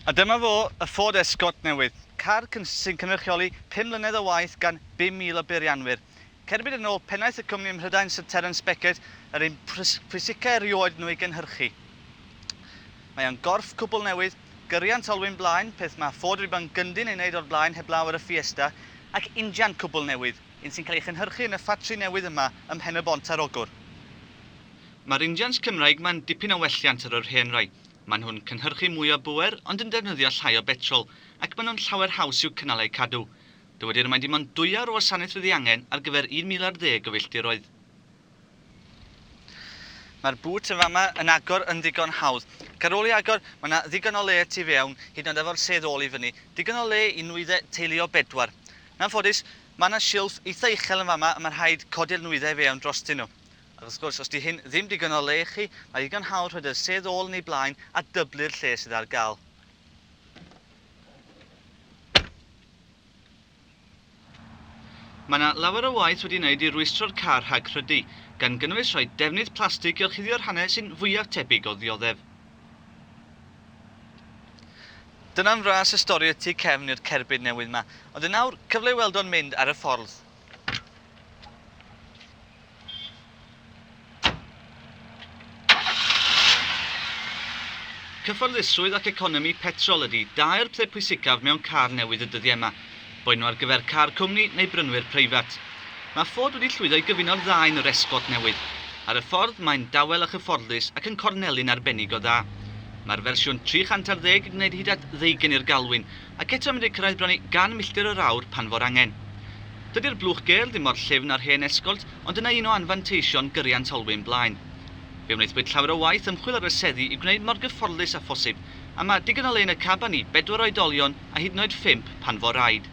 A dyma fo, y Ford Escort newydd, car sy'n cynrychioli pum mlynedd o waith gan 5,000 o beirianwyr. Cerbyd yn ôl pennaeth y cwmni ym Mhrydain Syr Terence Beckett, yr un pwysicaf erioed nhw ei gynhyrchu. Mae o'n gorff cwbl newydd, gyriant olwyn blaen, peth mae Ford wedi bod yn gyndyn ei wneud o'r blaen heblaw ar y Fiesta, ac injan cwbl newydd, un sy'n cael ei chynhyrchu yn y ffatri newydd yma ym Mhen-y-bont ar Ogwr. Mae'r injans Cymraeg ma'n dipyn o welliant ar yr hen rai. Maen nhw'n cynhyrchu mwy o bŵer ond yn defnyddio llai o betrol, ac maen nhw'n llawer haws i'w cynnal a'u cadw. Dywedir mai dim ond dwyawr o wasanaeth fydd ei angen ar gyfer 1000 ar ddeg o filltiroedd. Mae'r bŵt yn fama yn agor yn ddigon hawdd. Ac ar ôl i agor, mae 'na ddigon o le y tu fewn, hyd yn oed efo'r sedd ôl i fyny. Digon o le i nwyddau teulu o bedwar. Yn anffodus, mae 'na silff eitha uchel yn fama a mae rhaid codi'r nwyddau i fewn drostyn nhw. Ac wrth gwrs, os 'di hyn ddim digon o le i chi, mae ddigon hawdd rhoid y sedd ôl yn ei blaen a dyblu'r lle sydd ar gael. Mae yna lawer o waith wedi ei wneud i rwystro'r car rhag rhydu, gan gynnwys rhoi defnydd plastig i orchuddio'r rhannau sy'n fwyaf tebyg o ddioddef. Dyna'n fras y stori y tu cefn i'r cerbyd newydd 'ma. Ond yn awr, cyfle i weld o'n mynd ar y ffordd. Cyfforddusrwydd ac economi petrol ydy dau'r peth pwysicaf mewn car newydd y dyddiau yma, boed nhw ar gyfer car cwmni neu brynwyr preifat. Mae Ford wedi llwyddo i gyfuno'r ddau yn yr Escort newydd. Ar y ffordd, mae'n dawel a chyfforddus ac yn corneli'n arbennig o dda. Mae'r fersiwn 310 yn gwneud hyd at ddeugain i'r galwyn, Ac eto medru cyrraedd bron i 100 milltir yr awr pan fo'r angen. Dydi'r blwch gel ddim mor llyfn â'r hen Escort ond dyna un o anfanteision gyriant olwyn blaen. Fe wnaethpwyd llawer o waith ymchwil ar y seddi i'w gwneud mor gyfforddus â phosib a mae digon o le yn y caban i bedwar oedolion a hyd yn oed phump pan fo'r rhaid.